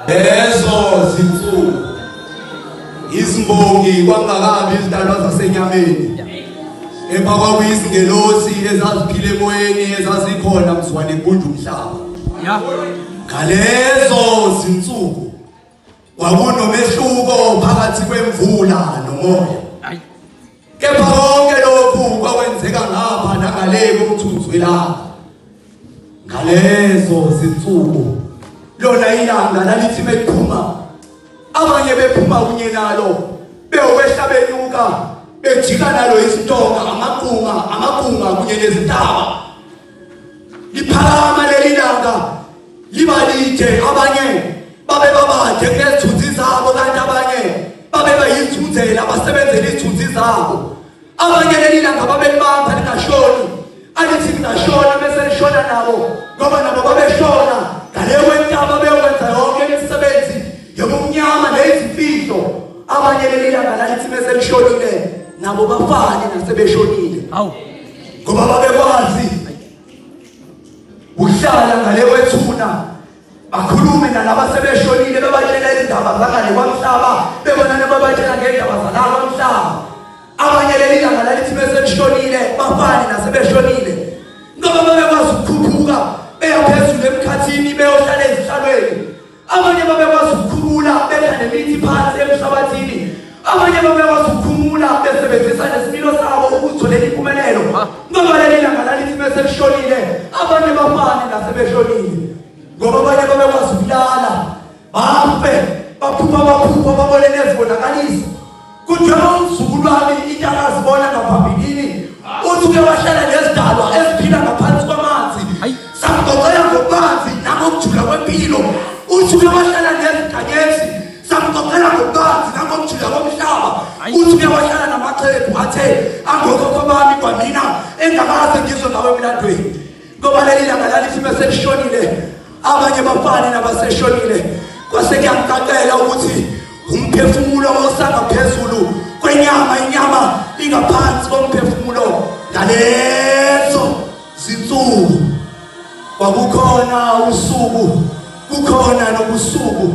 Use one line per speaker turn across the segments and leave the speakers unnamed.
lezo zinsuku izimbongi kwangakabi izidalwa zasenyameni emva kwakuyizingelosi ezaziphile emoyeni ezazikhona mzwane kunje umhlaba ngalezo zinsuku Kwakunomehluko phakathi kwemvula nomoya. Kepha konke lokhu kwakwenzeka ngapha nangale komthunzi welanga. Ngalezo zinsuku lona ilanga lalithi bekuphuma abanye bephuma kunye nalo beyokwehla benyuka bejika nalo izintonga amaqunga amaqunga kunye nezintaba liphakama leli langa liba lide abanye babe babade kunezithunzi zabo kanti abanye babe bayithunzela abasebenzela izithunzi zabo abanye leli langa babelibamba lingashoni alithi lingashona bese lishona nabo ngoba nabo babeshona ngale kwentaba beyokwenza yonke imisebenzi yobumnyama nezimfihlo abanye leli langa lalithi bese lishonile nabo bafane nasebeshonile awu ngoba babekwazi uhlala ngale kwethuna bakhulume nalaba sebeshonile bebatshela izindaba zangale kwamhlaba bebona nebabatshela ngendaba zala kwamhlaba abanye leli langa lalithi beseshonile bafane nasebeshonile ngoba babekwazi ukukhuphuka beyaphezulu emkhathini beyohlala ezihlalweni abanye babekwazi ukukhumula bedla nemithi phansi emhlabathini abanye babekwazi ukukhumula besebenzisa nesimilo sabo ukuzitholela impumelelo ngoba leli langa lalithi bese lishonile abanye bafane nasebeshonile ngoba abanye babekwazi ukulala bafe baphupha baphupha babone nezibonakaliso Kunjalo umzukulwane into akazibona ngaphambilini uthi uke wahlala nezidalwa eziphila ngaphansi kwamanzi samgoqela ngokubanzi nangokujula kwempilo uthi uke wahlala nezidanyezi samgoqela ngokubanzi nangokujula komhlaba uthi uke wahlala namaxhegu athe angokhokho bami kwanina engakaze ngizwe ngawe emlandweni ngoba leli langa lalithi meselishonile abanye bafane nabaseshonile kwase kuyangicacela ukuthi umphefumulo osangaphezulu kwenyama inyama ingaphansi komphefumulo ngalezo zinsuku kwakukhona usuku kukhona nobusuku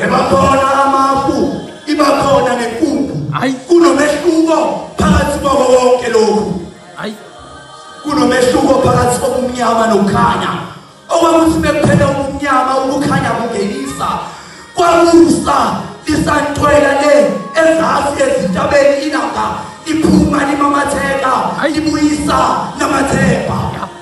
ebakhona amafu ibakhona nenkumbu kunomehluko phakathi kwako konke lokhu hayi kunomehluko phakathi kobumnyama nokukhanya okwakuthi bekuphela ubumnyama ukukhanya kungenisa kwamusa lisantwela le ezasi ezintabeni ilanga liphuma limamatheka libuyisa namathemba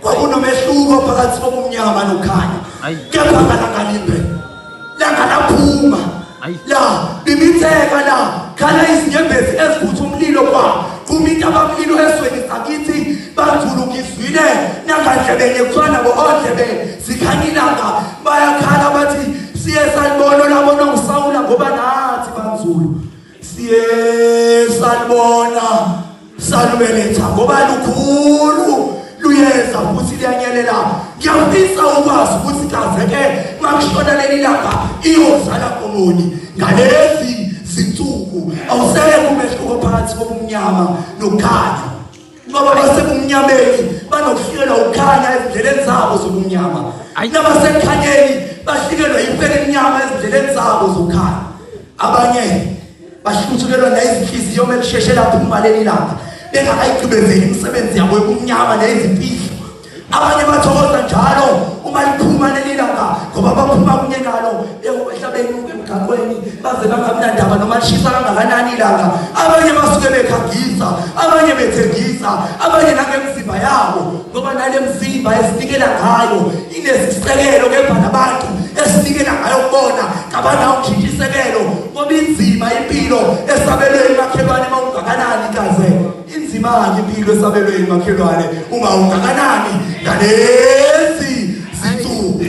kwakunomehluko phakathi kobumnyama nokhanya kepha ngalangalimbe langalaphuma la bimitheka la khala izinyembezi eziphutha umlilo kwa kuminta abamlilo esweni sakithi banzulu ngizwile nangandlebeni kuthiwa nabo ondlebe zikhanya ilanga bayakhala bathi siye salibona labona usawula ngoba nathi banzulu siye salibona salubeletha ngoba lukhulu luyeza futhi liyanyelela ngiyafisa ukwazi ukuthi kazeke makushona leli langa iyozala komoni ngalezi zinsuku awuseke umehluko phakathi kobumnyama nokhanya Baba basebumnyameni banokuhlelwa ukukhanya ezindleleni zabo zobumnyama. Nabasekhanyeni bahlikelwa impela emnyama ezindleleni zabo zokukhanya. Abanye bahluthukelwa nayizinhliziyo uma kusheshe lapho umaleli lapha bengakayigqibezeli imisebenzi yabo yobumnyama neyizimfihlo abanye bathokoza njalo uma liphuma leli langa ngoba baphuma kunye nalo ehlabeni emgaqweni baze bangamnandaba noma lishisa kangakanani ilanga abanye basuke bekhangisa abanye bethengisa abanye nangemzimba yabo ngoba nale mzimba esinikela ngayo inesisekelo kepha nabantu esinikela ngayo kubona kabanawo kushintsha isekelo ngoba inzima impilo esabelweni makhelwane uma ungakanani kaze Inzimani impilo esabelwe imakhelwane uma ungakanani ngalezi zinsuku.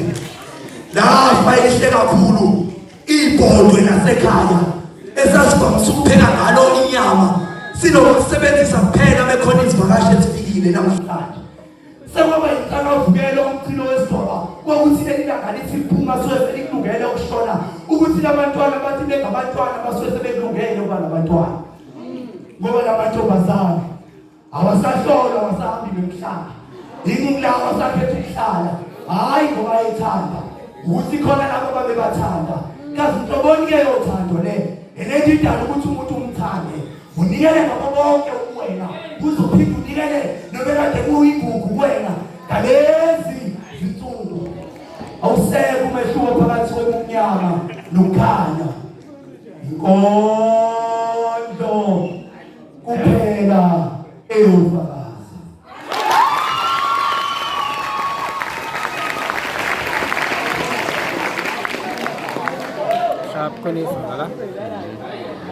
Lafa elihle kakhulu ibhodwe lasekhaya esasivamisa ukupheka ngalo inyama sinokusebenzisa kuphela mekhona izivakashi ezifikile namhlanje. sekwaba yinhlakavukelo umchilo wesidoba kwakuthi leli langa lithi liphuma suke selikulungele ukushona ukuthi labantwana bathi bengabantwana basuke sebekulungele ukuba nabantwana ngoba lamantombazane awasahlolwa awasahambi nomhlaba iningi lawo asakhetha ukuhlala hhayi ngoba ethanda ukuthi khona labo babebathanda kazi nhloboni-ke yothando le elendidala ukuthi umuntu umthande unikele ngakho konke ukuwena uzophinde unikele nobekade kuyigugu kuwena ngalezi zinsuku awuseke umehluko phakathi kobumnyama nokukhanya inkondlo kuphela eyofaka Queen Isabella.